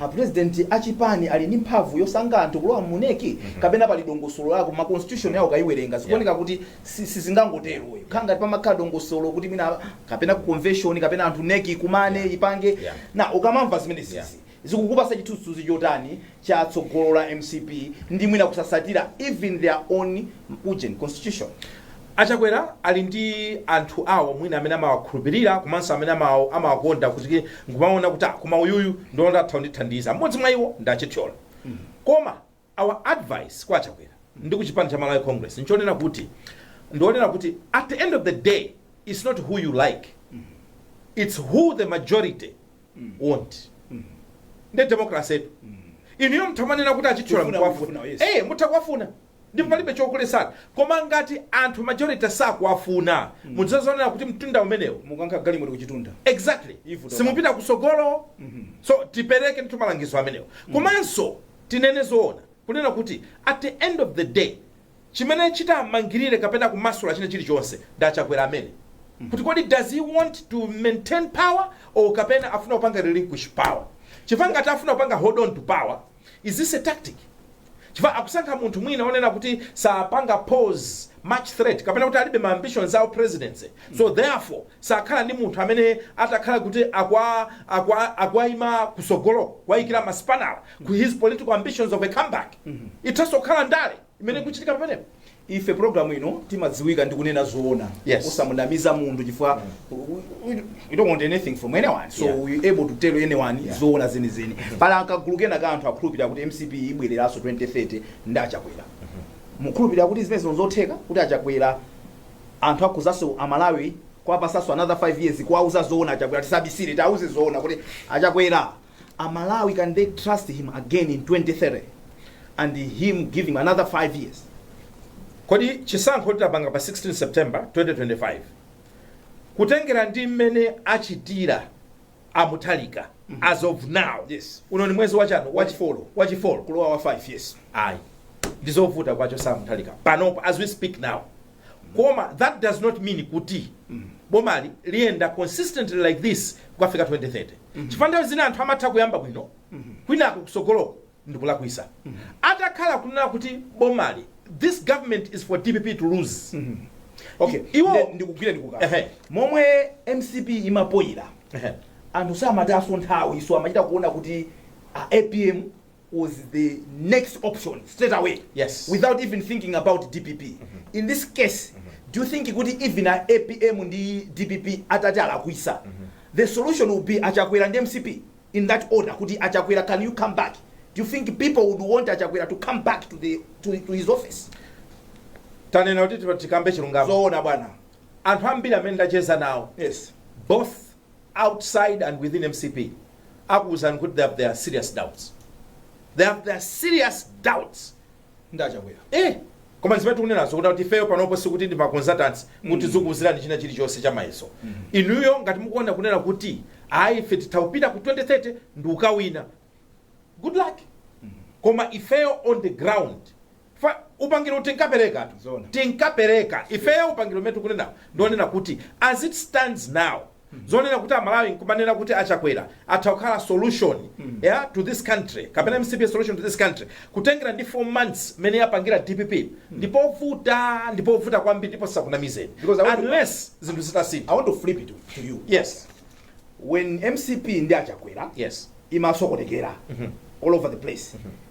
A president a chipani ali ndi mphamvu yosankha anthu kulowa mu nec kapena pali dongosolo lako ma constitution yawo ukayiwerenga zikuoneka kuti si- sizingangotero ikukhala ngati pamakhala dongosolo kuti mwina kapena ku convention kapena anthu nec ikumane ipange Yeah. na ukamamva zimene Yeah. izi zikukupasa chithunzithunzi chotani cha tsogolo la mcp ndi mwina kusasatira even their own ujeni constitution A Chakwera ali ndi anthu awo mwina amene amawakhulupilira komanso amene amawakonda kuti nkumaona kuti ah koma uyuyu ndikuona kuti atha kundithandiza. M'modzi mwa iwo ndi a Chithyola. Koma our advice kwa a Chakwera ndi ku chipani cha Malawi Congress nchonena kuti ndi onena kuti at the end of the day it's not who you like it's who the majority want. Nde democracy etu. Inuyo mutha kumanena kuti a Chithyola Tikufuna, mukuwafuna. tikufuna, yes. Eh mutha kuwafuna. ndipo palibe chokuletsani koma ngati anthu majority sakuwafuna mudzazonera kuti mtunda umenewo mukankha galimoto ku chitunda exactly Ivu toka. simupita kusogolo so tipereke ndithu malangizo amenewo komanso tinene zoona kunena kuti at the end of the day chimene chitamangirire kapena kumasula china chilichonse ndi achakwera amene kuti kodi does he want to maintain power or kapena afuna kupanga relinquish power chifukwa ngati afuna kupanga hold on to power Is this a tactic? Chifukwa akusankha munthu mwina onena kuti sapanga pose much threat kapena kuti alibe ma ambitions a u presidency. So therefore sakhala ndi munthu amene atakhala kuti akwa akwa akuwaima kusogoloko kuwaikira masipanala ku his political ambitions of a comeback. Ithaso kukhala ndale. imene ikuchitika pamenepo ife programu ino timadziwika ndi kunena zoona Yes. osamunamiza munthu chifukwa we don't want anything from anyone so Yeah. we able to tell anyone zoona zenizeni pali kagulu kena ka anthu akhulupirira kuti mcp ibwereranso 2030 ndi achakwera mukhulupirira kuti zimene zino zotheka kuti achakwera anthu angadzaso amalawi kuwapasaso another 5 years kuwauza zoona achakwera tisabisire tiauze zoona kuti achakwera A Malawi can they trust him again in 2030 and him giving another 5 years? Kodi chisankho titapanga pa 16 September 2025 kutengera ndi mmene achitira a Mutharika mm -hmm. as of now yes. uno ni mwezi wachano wachifolo wachifolo kulowa wa 5 yes ayi ndizovuta kuwachosa a Mutharika panopo as we speak now koma that does not mean kuti bomali liyenda consistently like this kukafika 2030 chifukwa nthawi zina anthu amatha kuyamba bwino kwinako kusogoloko ndikulakwisa atakhala kunena kuti bomali this government is for dpp to lose okay Iwo- Nde- ndikugwira ndikukaa Ehe. momwe mcp imafoyira Ehe. anthu samatayaso nthawi so amachita kuona kuti a apm was the next option straight away Yes. without even thinking about dpp in this case do you think kuti even a apm ndi dpp atati alakwisa the solution would be achakwera ndi mcp in that order kuti achakwera can you come back do you think people would want achakwera to come back to, the, to, to his office tanena kuti tikambe chilungamo zoona bwana anthu ambiri amene ndacheza nawo yes both outside and within mcp akuuzani kuti they have their serious doubts they have their serious doubts ndi achakwera eh koma zimene tikunenazo kuti kuti ifeyo panopo sikuti ndi maconsultants kuti tizikuuzirani china chilichonse cha mayeso inuyo ngati mukuona kunena kuti ayi ife titha kupita ku 2030 ndikukawina good luck koma ifeyo on the ground Fa, upangiri uwu tinkapereka tu, tinkapereka ifeyo upangiri umene tikunenawu ndi wonena kuti as it stands now, zonena kuti a Malawi nkumanena kuti a Chakwera atha kukhala solution, ya, to this country, kapena mcp a solution to this country, kutengera ndi 4 months mene yapangira dpp, ndi povuta, ndi povuta kwambiri ndipo tisakunamizeni, Because I want to- unless zinthu zitasintha. I want to flip it to you. Yes, When mcp ndi a Chakwera yes, imasokonekera all over the place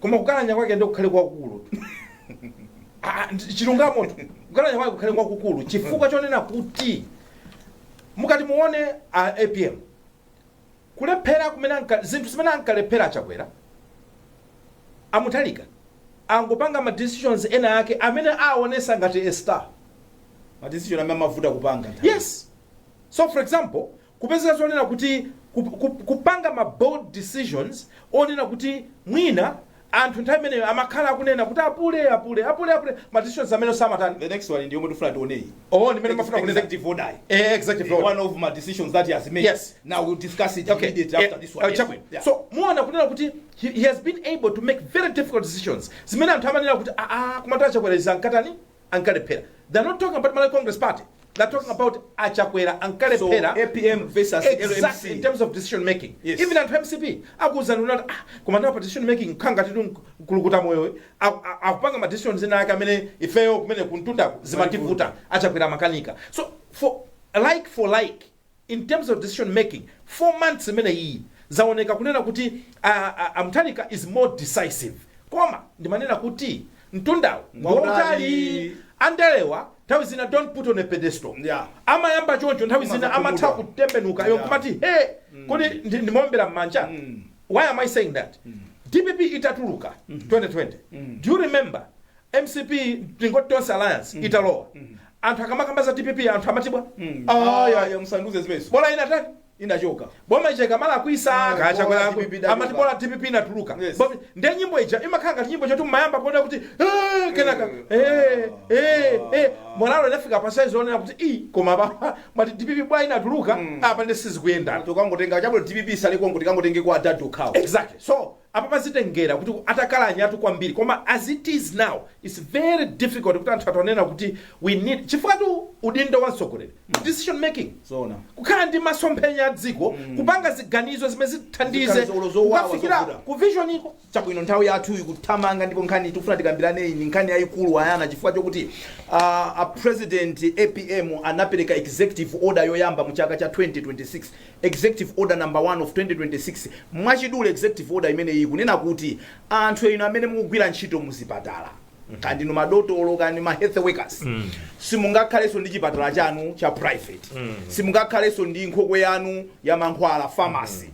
koma kukalanya kwake nde kukhale kwakukulu tu. Ah, ndi- chilungamo tu kukalanya kwake kukhale kwakukulu chifukwa chonena kuti mukati muone a apm kulephera kumene anka- zinthu zimene ankalephera achakwera amutharika angopanga ma decisions ena ake amene aonesa ngati a star madecision amene amavuta kupanga nthawi. yes so for example Kupezeka zonena kuti ku, ku, kupanga ma bold decisions onena kuti mwina anthu nthawi imeneyo amakhala akunena kuti apule, apule, apule, apule, ma decisions amene samatani. The next one ndi yomwe tifuna tione iyi. Oh, ndi imene mafuna kunena. Executive order iyi. Eh, executive order. One of ma decisions that he has made. Yes. Now we'll discuss it okay. immediately after yeah. this one. Uh, yes. yeah. So muona kunena kuti he, he has been able to make very difficult decisions zimene anthu amanena kuti aa ah, ah, komatu achakwera izi ankatani ankalephera they are not talking about Malawi Congress Party they are talking about achakwera ankalephera so, APM versus exactly LMC. in terms of decision making yes. even anthu a mcp akuwuzani kunena kuti ah, koma nawo pa decision making nkhanga titu mkulukutamoyo akupanga ma decisions ena ake amene ifeyo kumene kumtundako zimativuta achakwera amakanika so for like for like in terms of decision making 4 months imeneyiyi zaoneka kunena kuti a, a, a mthalika is more decisive koma ndimanena kuti mtundawu ngwautali Ngutali. andalewa nthawi zina don't put on a pedestal Yeah. amayamba choncho nthawi zina Umazakhumudwa. amatha kutembenuka yo Yeah. kumati hey kodi ndi- ndimaombera m'manja why am i saying that dpp itatuluka 2020 do you remember mcp tingoti tonse alliance italowa anthu akamakamba za dpp anthu amati bwa ayaya musanduze zimenezo bola inatani inachoka boma ija ikamalakwitsa Ah, bola ka Chakwera DPP idatuka. amati bola dpp inatuluka Yes. Bo- ndiye nyimbo ija imakhala ngati nyimbo chonchotu mmayamba kuona kuti "Eh," kenaka eh, eh, eh. morale inafika pa size onena kuti i koma apa mwati dpp bwa inatuluka apa ndi sizikuyendana tokangotenga chabwino dpp isaliko ngati tikangotenga kwa adadi okhawo exactly so Apapa zitengera kuti atakalanya tu kwambiri koma as it is now its very difficult kuti anthu athe kunena kuti we need chifukwatu udindo wa mtsogoleri ndi decision making Zoona. kukhala ndi masomphenya a dziko kupanga ziganizo zimene zithandize Ziganizo olo zowawa kukafikira zovuta. ku vision iko chabwino nthawi yathu ikuthamanga ndipo nkhani tikufuna tikambirane iyi ndi nkhani yayikulu Ayana chifukwa chokuti uh, a president apm anapereka executive order yoyamba mu chaka cha 2026 Executive Order Number 1 of 2026, Mwachidule Executive Order imeneyi ikunena kuti anthu inu amene mukugwira ntchito muzipatala, kaya ndinu madotolo kaya ndi ma health workers, simungakhalenso ndi chipatala chanu cha private, simungakhalenso ndi nkhokwe yanu ya mankhwala, pharmacy.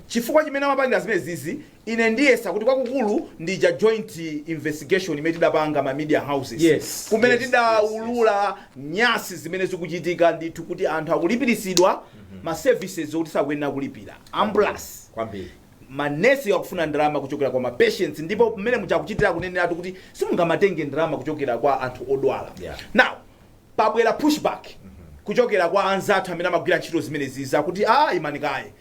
Chifukwa chimene amapangira zimenezizi Ine ndiyesa kuti kwakukulu ndi ija joint investigation imene tidapanga ma media houses Yes, kumene yes, tidaulula nyasi zimene zikuchitika ndithu kuti anthu akulipiritsidwa ma services okuti sakuyenera kulipira ambulance kwambiri manesi akufuna ndalama kuchokera kwa mapatients ndipo mmene muja akuchitira akuneneratu kuti simungamatenge ndalama kuchokera kwa anthu odwala Yeah. now pabwera pushback kuchokera kwa anzathu amene amagwira ntchito zimenezi zakuti a imani kaye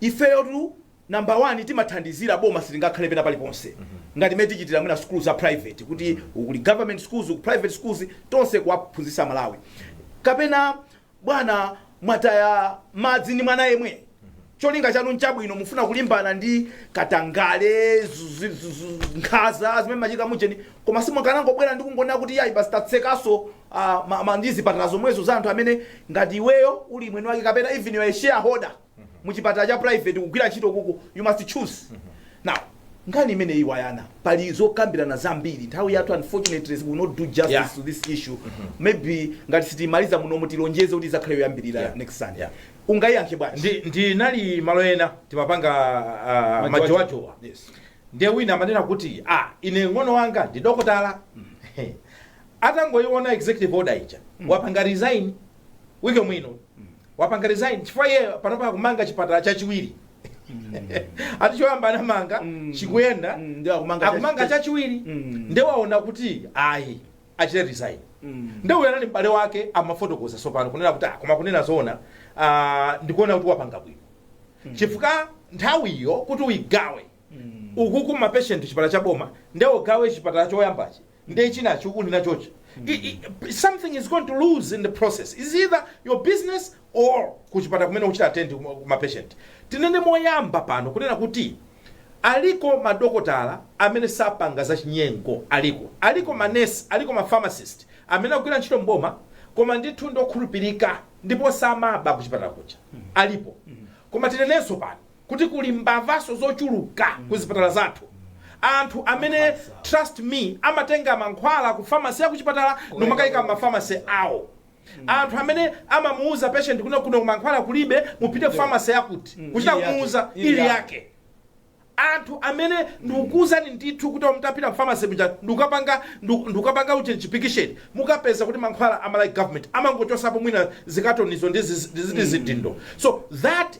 ifeyotu Number one timathandizira boma silingakhale pena paliponse ngati mmene tichitira mwina sukulu za private kuti uku kuli government schools uku private schools tonse kuwaphunzitsa Malawi kapena bwana mwataya madzi ndi mwana yemwe cholinga chanu nchabwino mufuna kulimbana ndi katangale zu- zu- zu- zu- nkhaza zimene zimachitika mujeni koma simukanangobwera ndi kungonena kuti yayi basi tatsekanso uh, ma, ma, ndi zipatala zomwezo za anthu amene ngati iweyo uli mwini wake kapena even you are a shareholder muchipatala cha private kugwira ntchito kuku you must choose now nkhani imeneyi Ayana pali zokambirana zambiri nthawi yathu unfortunately we will not do justice Yeah. to this issue maybe ngati sitimaliza muno mutilonjeze kuti izakhale yoyambirira Yeah. next sunday Yeah. ungayiyankhe bwanji Ndi- ndinali malo ena timapanga ah, majowajowa Yes. ndiye wina amanena kuti ah, ine mng'ono wanga ndi dokotala atangoiona executive order ija wapanga resign wike mwino wapanga resign chifukwa iye panopa akumanga chipatala chachiwiri ati choyamba anamanga Mm. chikuyenda Mm, nde akumanga cha- akumanga cha- chachiwiri Mm. nde waona kuti ayi achite resign Mm. nde uyo anali m'bale wake amafotokoza sopano kunena kuti "Ah, koma kunena zoona ah, ndikuona kuti wapanga bwino chifukwa nthawiyo kuti uyigawe ukuku ma patient chipatala cha boma nde ugawe chipatala choyambachi nde chinachi uli nachochi I- i- something is going to lose in the process is either your business or kuchipatala kumene uchita attend kuma- kuma patient tinene moyamba pano kunena kuti aliko madokotala amene sapanga za chinyengo aliko aliko manesi aliko mapharmacist amene akugwira ntchito mboma koma ndithu ndokhulupirika ndipo samaba kuchipatala kucha alipo koma tinenenso pano kuti kuli mbavaso zochuluka ku zipatala zathu. Anthu amene trust me amatenga mankhwala ku pharmacy ya kuchipatala nkumakaika mma pharmacy awo. Anthu amene amamuuza patient kuti kuno mankhwala kulibe mupite ku pharmacy yakuti kuchita kumuuza ili yake. Anthu amene ndikukuuzani ndithu kuti mutapita ku pharmacy muja ndikukapanga investigation mukapeza kuti mankhwala a Malawi government amangochosapo mwina zikatonizo ndi ziti zidindo so that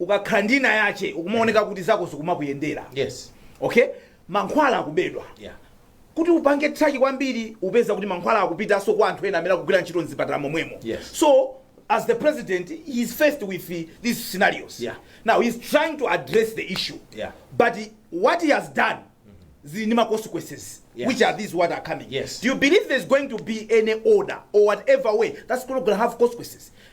ukakhala ndi ina yake ukumaoneka kuti zako zikumakuyendera yes okay mankhwala akubedwa yeah kuti upange traki kwambiri upeza kuti mankhwala akupitanso kwa anthu ena amene akugwira ntchito mzipatala momwemo Yes. so as the president he is faced with the, these scenarios Yeah. now he's trying to address the issue Yeah. but he, what he has done zili ndi ma consequences Yes. which are these what are coming Yes. do you believe there's going to be any order or whatever way that's going to have consequences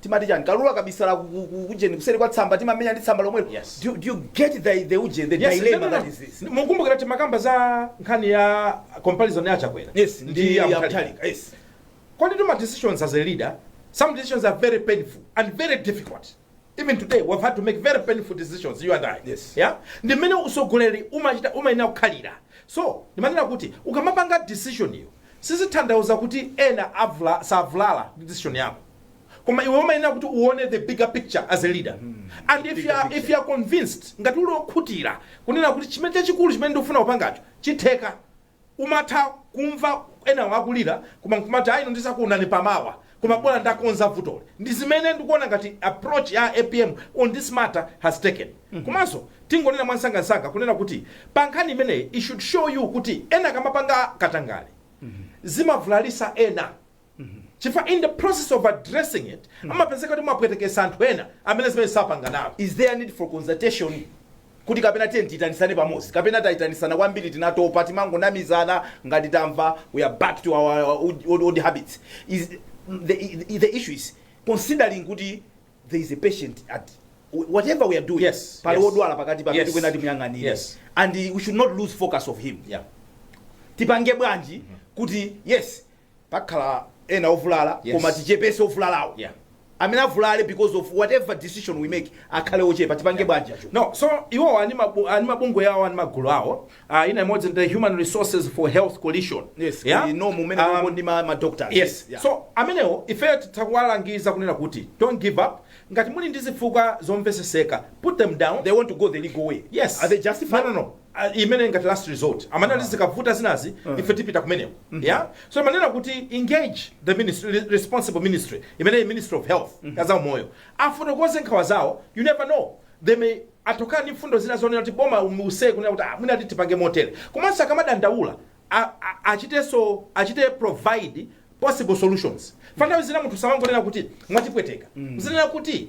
timati chani kalulu akabisala ku- ku- ku- kujeni kuseri kwa tsamba timamenya ndi tsamba lomwelo Yes. do, do you get the, the ujeni the Yes, dilemma no, no, that no. is this mukumbukira timakamba za nkhani ya comparison ya Chakwera yes ndi ndi ya Mutharika. Mutharika, yes When you're making decisions as a leader, some decisions are very painful and very difficult. Even today, we've had to make very painful decisions, you and I. Yes. Yeah? Ndi mmene usogoleri umachita umayenera kukhalira. So, ndimanena kuti ukamapanga decision iyo, sizitanthauza kuti ena avula savulala ndi decision yako. koma iwe umayenera kuti uone the bigger picture as a leader and if you are, if you are convinced ngati uli okhutira kunena kuti chimene chachikulu chimene ndikufuna kupangacho chitheka umatha kumva enawo akulira koma nkumati ayino ndizakuonani mmawa koma bwana ndakonza vutoli ndi zimene ndikuona ngati approach ya apm on this matter has taken komanso tingonena mwansangansanga kunena kuti pa nkhani imeneyi it should show you kuti ena akamapanga katangale zimavulalisa ena chifukwa in the process of addressing it amapezeka kuti mwapwetekesa anthu ena amene zimenezo sapanga nawo is there need for consultation kuti kapena tiye tiitanisane pamodzi kapena taitanisana kwambiri tinatopa timangonamizana ngati tamva we are back to our old, old, old habits is the, the, the issue is considering kuti there is a patient at whatever we are doing Yes, pali yes. wodwala pakati pamene Yes. tikuyenera timuyang'anire Yes. and we should not lose focus of him yeah. tipange bwanji kuti yes pakhala ena ovulala Yes. koma tichepese ovulalawo Yeah. amene avulale because of whatever decision we make akhale ochepa tipange bwanji acho no so iwowa ali ndi mabu- ali ndi mabungwe awo ali ndi magulu awo uh, ina imodzi ndi human resources for health coalition yes Yeah? we know momwemo Um, um, ndi ma, ma doctors yes Yeah. so amenewo ifeyo titawalangiza kunena kuti don't give up ngati muli ndi zifukwa zomveseseka put them down they want to go the legal way yes are they justified no no no a- imene ngati last resort amanena kuti zikavuta zinazi ife tipita kumeneko ya so amanena kuti engage the ministry, re- responsible ministry imene ministry of health ya zaumoyo afotokoze nkhawa zawo you never know they may atulukanso ndi mfundo zina zonena kuti boma limve kunena kuti ah, mwina tipange motere komanso akamadandaula a- a- achitenso achite provide possible solutions chifukwa nthawi zina munthu samangonena kuti mwatipweteka azinena kuti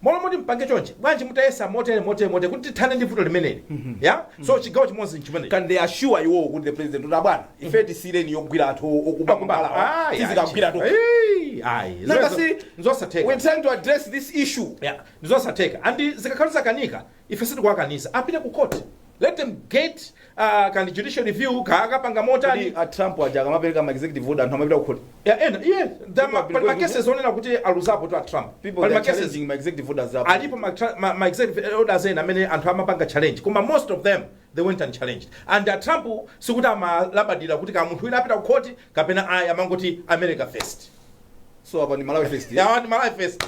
M'malo moti mupange chonchi, bwanji mutayesa motere, motere, motere kuti tithane ndi vuto limeneli. Ya? So chigawo chimodzi n'chimenechi. can they assure iwowo kuti the president kuti abwana ife tisiyireni yogwira anthu o- okuba kumbalawa Ayi, tizikagwira ayi, tokha ayi, ayi. Nanga Zimenezo- si- nzosatheka we're trying to address this issue Yeah, ndizosatheka and zikakhala zakanika ife sitikuwakaniza apite ku court let them get uh, kaya ndi judicial review kaya akapanga motani Kodi a Trump aja akamapereka ma executive order anthu amapita ku court. Yeah, ena iye da- ma- People pali are ma case onena kuti aluzapotu a trump People pali they are ma case challenging ma executive orders up. alipo ma tra- ma- ma executive orders ena amene anthu amapanga challenge koma most of them they went and challenged and a trump sikuti amalabadira kuti ka munthu wina apita ku khoti kapena ayi amangoti america first So apa ndi Malawi first. yeah. apa ndi malawi first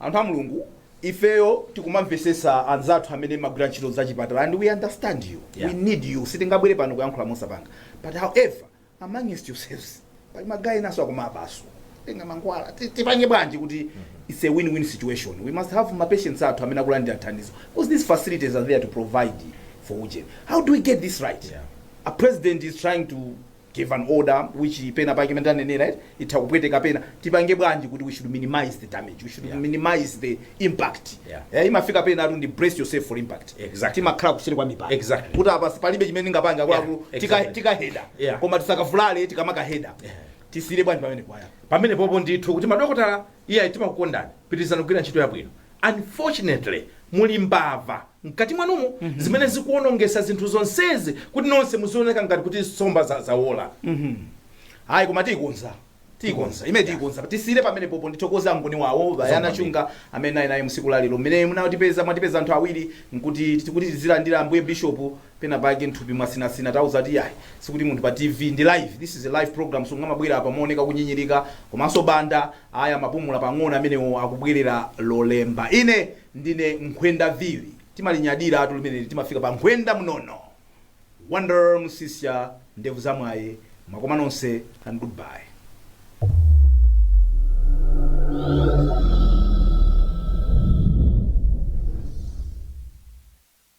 Anthu a Mulungu ifeyo tikumamvesetsa anzathu amene mumagwira ntchito zachipatala and we understand you yeah. we need you sitingabwere pano kuyankhula mosapanga but however amongst yourselves pali magayi enanso akumabanso kutenga mankhwala ti- tipange bwanji kuti it's a win-win situation we must have mapatients athu amene akulandira thandizo because these facilities are there to provide for ujeni how do we get this right Yeah. a president is trying to give an order which pena pake mmene tanenera eti itha kupweteka pena tipange bwanji kuti we should minimize the damage we should Yeah. minimize the impact Yeah. Eh, imafika pena amati ndi brace yourself for impact Exactly. timakhala kuseri kwa mipando Exactly. kuti apa palibe chimene ndingapange akuluakulu Yeah, tika- exactly. tikaheda Yeah. koma tisakavulale tikamakaheda Yeah. tisiyire bwanji pamene kwaya pamene popo ndithu kuti madokotala ife timakukondani pitirizani kugwira ntchito yabwino unfortunately muli mbava mkati mwanumo zimene zikuonongesa zinthu zonsezi kuti nonse muzioneka ngati kuti nsomba za- zawola hayi koma tiyikonza tiyikonza imene tiyikonza tisiyire pamene popo ndithokoze angoni wawo bayana chunga amene naye naye msiku lalero mmene mwatipeza mwatipeza anthu awiri nkuti tikuti tizilandira ambuye bishop pena pake nthupi mwasinasina tauza kuti yayi sikuti munthu pa tv ndi live this is a live program so angamabwere apa mooneka kunyinyirika komanso banda Ayi, amapumula pang'ono amenewo, akubwerera Lolemba. Ine ndine nkhwenda vili. Timalinyadiratu limeneli, timafika pa nkhwenda mnono. Wonder Msisya, ndevu za mwayi, mwakoma mose and good bye.